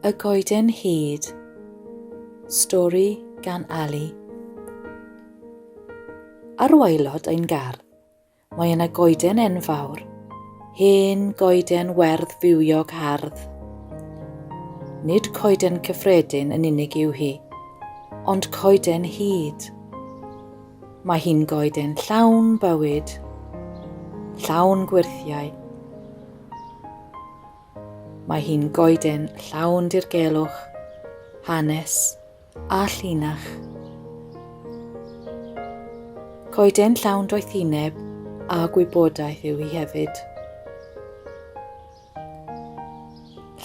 Y Goeden Hud Stori gan Ali Ar waelod ein gardd, mae yna goeden enfawr, hen goeden werdd fywiog hardd. Nid coeden cyffredin yn unig yw hi, ond coeden hud. Mae hi'n goeden llawn bywyd, llawn gwyrthiau, Mae hi'n goeden llawn dirgelwch, hanes a llinach. Coeden llawn doethineb a gwybodaeth yw hi hefyd.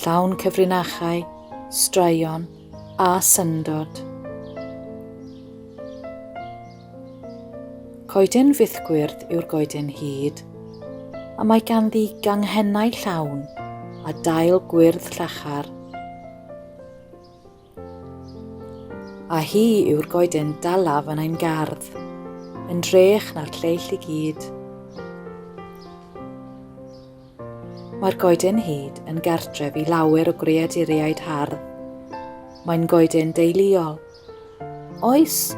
Llawn cyfrinachau, straeon a syndod. Coeden fythgwyrdd yw'r goeden hud, a mae ganddi ganghennau llawn a dail gwyrdd llachar. A hi yw'r goeden dalaf yn ein gardd, yn drech na'r lleill i gyd. Mae'r goeden hyd yn gartref i lawer o greaduriaid hardd. Mae'n goeden deuluol Oes,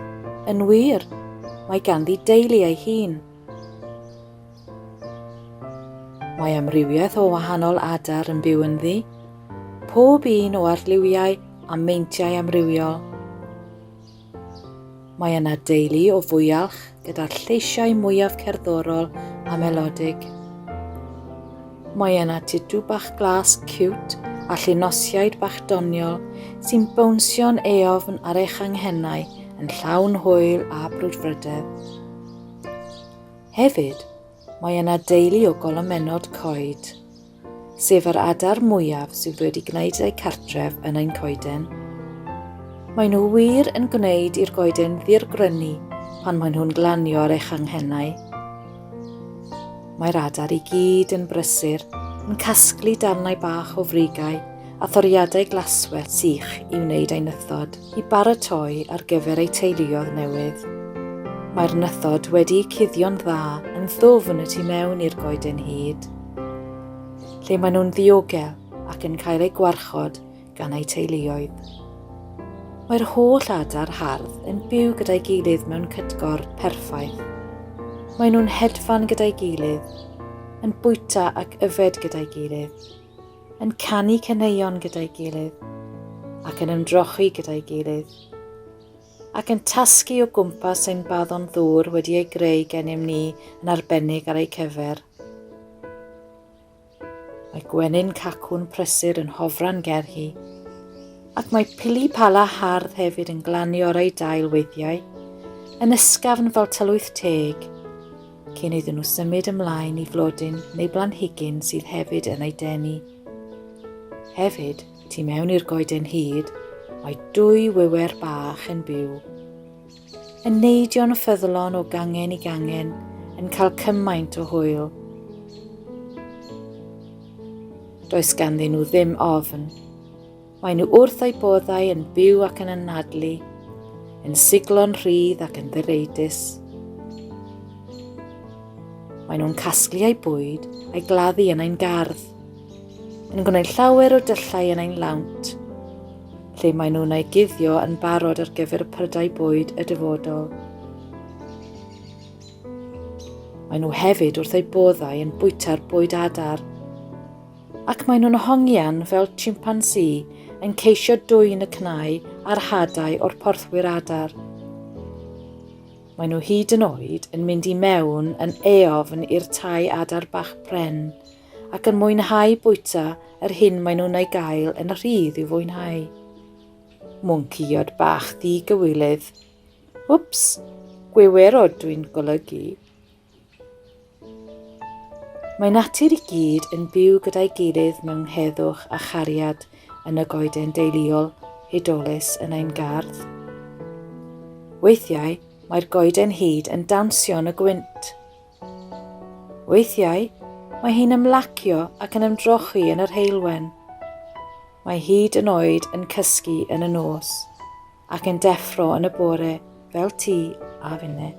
yn wir, mae ganddi deulu ei hun. Mae amrywiaeth o wahanol adar yn byw ynddi, pob un o arlliwiau a meintiau amrywiol. Mae yna deulu o fwyalch, gyda'r lleisiau mwyaf cerddorol a melodig. Mae yna titw bach glas cute a llinosiaid bach doniol sy'n bownsio'n eofn ar eich anghennau yn llawn hwyl a brwdfrydedd. Hefyd, mae yna deulu o golomennod coed. sef yr adar mwyaf sydd wedi gwneud eu cartref yn ein coeden. Mae nhw wir yn gwneud i'r goeden ddirgrynu pan maen nhw'n glanio ar eich anghennau. Mae'r adar i gyd yn brysur, yn casglu darnau bach o frigau a thoriadau glaswell sych i wneud ei nythod i baratoi ar gyfer ei teuluodd newydd. Mae'r nythod wedi cuddio'n dda yn ddwfn y tu mewn i'r goeden hyd. lle maen nhw'n ddiogel ac yn cael eu gwarchod gan eu teuluoedd. Mae'r holl adar hardd yn byw gyda'i gilydd mewn cytgor perffaith. Maen nhw'n hedfan gyda'i gilydd, yn bwyta ac yfed gyda'i gilydd, yn canu caneuon gyda'i gilydd ac yn ymdrochi gyda'i gilydd. ac yn tasgu o gwmpas ein baddon ddŵr wedi ei greu gennym ni yn arbennig ar eu cyfer. Mae gwenyn cacwn prysur yn hofran ger hi, ac mae pili pala hardd hefyd yn glanio ar ei dail weithiau, yn ysgafn fel tylwyth teg, cyn iddyn nhw symud ymlaen i flodyn neu blanhigyn sydd hefyd yn ei denu. Hefyd, Tu mewn i'r goeden hyd, mae dwy wiwer bach yn byw. Yn neidio'n ffyddlon o gangen i gangen, yn cael cymaint o hwyl. Does ganddyn nhw ddim ofn. Mae nhw wrth eu boddau yn byw ac yn anadlu, yn siglo'n rhydd ac yn ddireidus. Mae nhw'n casglu eu bwyd a'i gladdu yn ein gardd. yn gwneud llawer o dyllau yn ein lawnt, lle maen nhw'n ei guddio yn barod ar gyfer y prydau bwyd y dyfodol. Maen nhw hefyd wrth eu boddau yn bwyta'r bwyd adar, ac maen nhw'n hongian fel chimpansi yn ceisio dwyn y cnau a'r hadau o'r porthwyr adar. Maen nhw hyd yn oed yn mynd i mewn yn eofn i'r tai adar bach pren, ac yn mwynhau bwyta yr hyn maen nhw'n ei gael yn rhydd i'w fwynhau. Mwncïod bach di-gywilydd. Wps, gwiwerod dwi'n golygu. Mae natur i gyd yn byw gyda'i gilydd mewn heddwch a chariad yn y goeden deiliol hudolus yn ein gardd. Weithiau, mae'r goeden hyd yn dawnsio yn y gwynt, Weithiau, mae hi'n ymlacio ac yn ymdrochi yn yr heulwen. Mae hyd yn oed yn cysgu yn y nos ac yn deffro yn y bore fel ti a finne.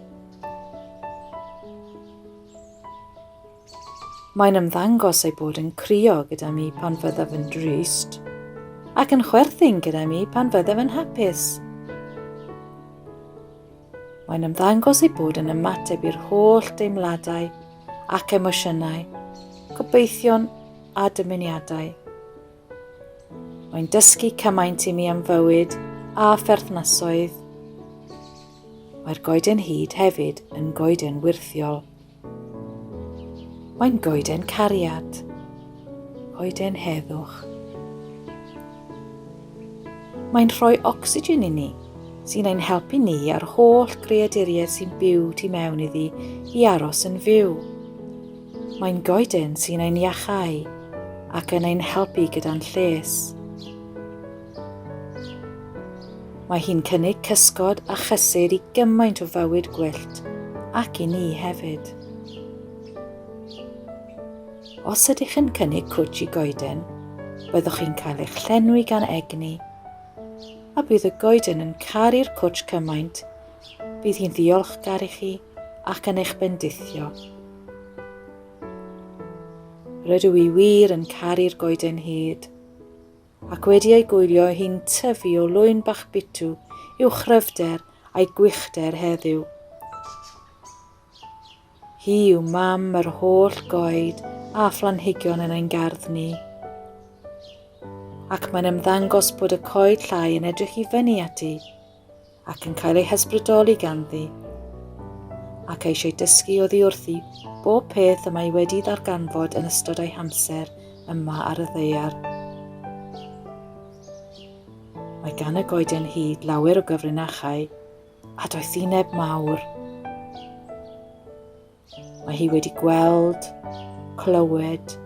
Mae'n ymddangos ei bod yn crio gyda mi pan fyddaf yn drist, ac yn chwerthin gyda mi pan fyddaf yn hapus. Mae'n ymddangos ei bod yn ymateb i'r holl deimladau ac emosiynau, gobeithion a dymuniadau. Mae'n dysgu cymaint i mi am fywyd a pherthnasoedd. Mae'r goeden hyd hefyd yn goeden wirthiol. Mae'n goeden cariad, coeden heddwch. Mae'n rhoi ocsigen i ni, sy'n ein helpu ni a'r holl greaduriaid sy'n byw tu mewn iddi i aros yn fyw. Mae'n goeden sy'n ein iachau ac yn ein helpu gyda'n lles. Mae hi'n cynnig cysgod a chysur i gymaint o fywyd gwyllt, ac i ni hefyd. Os ydych yn cynnig cwtsh i goeden, byddwch chi'n cael eich llenwi gan egni, a bydd y goeden yn caru'r cwtsh cymaint, bydd hi'n ddiolchgar i chi ac yn eich bendithio. Rydw i wir yn caru'r goeden hyd. ac wedi ei gwylio hi'n tyfu o lwyn bach bitw i'w chryfder a'i gwichder heddiw. Hi yw mam yr holl goed a phlanhigion yn ein gardd ni. Ac mae'n ymddangos bod y coed llai yn edrych i fyny ati. ac yn cael ei hysbrydoli ganddi, ac eisiau dysgu oddi wrthi bob peth y mae wedi ddarganfod yn ystod ei hamser yma ar y ddeiar. Mae gan y goeden hyd lawer o gyfrinachau a doethineb mawr, Mae hi wedi gweld, clywed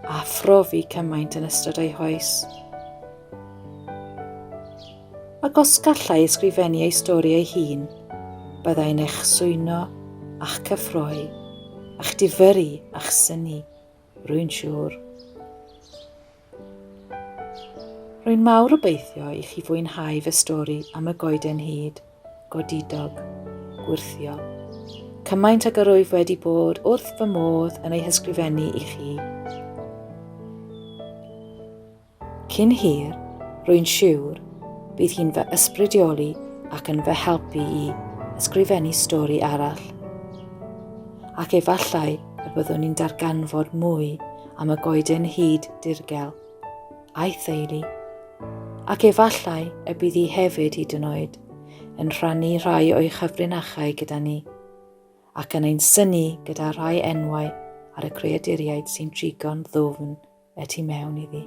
a phrofi cymaint yn ystod ei hoes. Ac os gallai ysgrifennu ei stori ei hun, byddai'n eich swyno a'ch cyffroi, a'ch difyru a'ch syni, rwy'n siŵr. Rwy'n mawr obeithio i chi fwynhau fy stori am y goeden hud, godidog, gwyrthio. Cymaint ag yr wyf wedi bod wrth fy modd yn ei hysgrifennu i chi. Cyn hir, rwy'n siwr, bydd hi'n fy ysbrydioli ac yn fy helpu i ysgrifennu stori arall. Ac efallai y byddwn ni'n darganfod mwy am y goeden hud dirgel, a'i theulu, ac efallai y bydd hi hefyd hyd yn oed yn rhannu rhai o'i chyfrinachau gyda ni, ac yn ein syni gyda rhai enwau ar y creaduriaid sy'n trigo'n ddwfn y tu mewn iddi.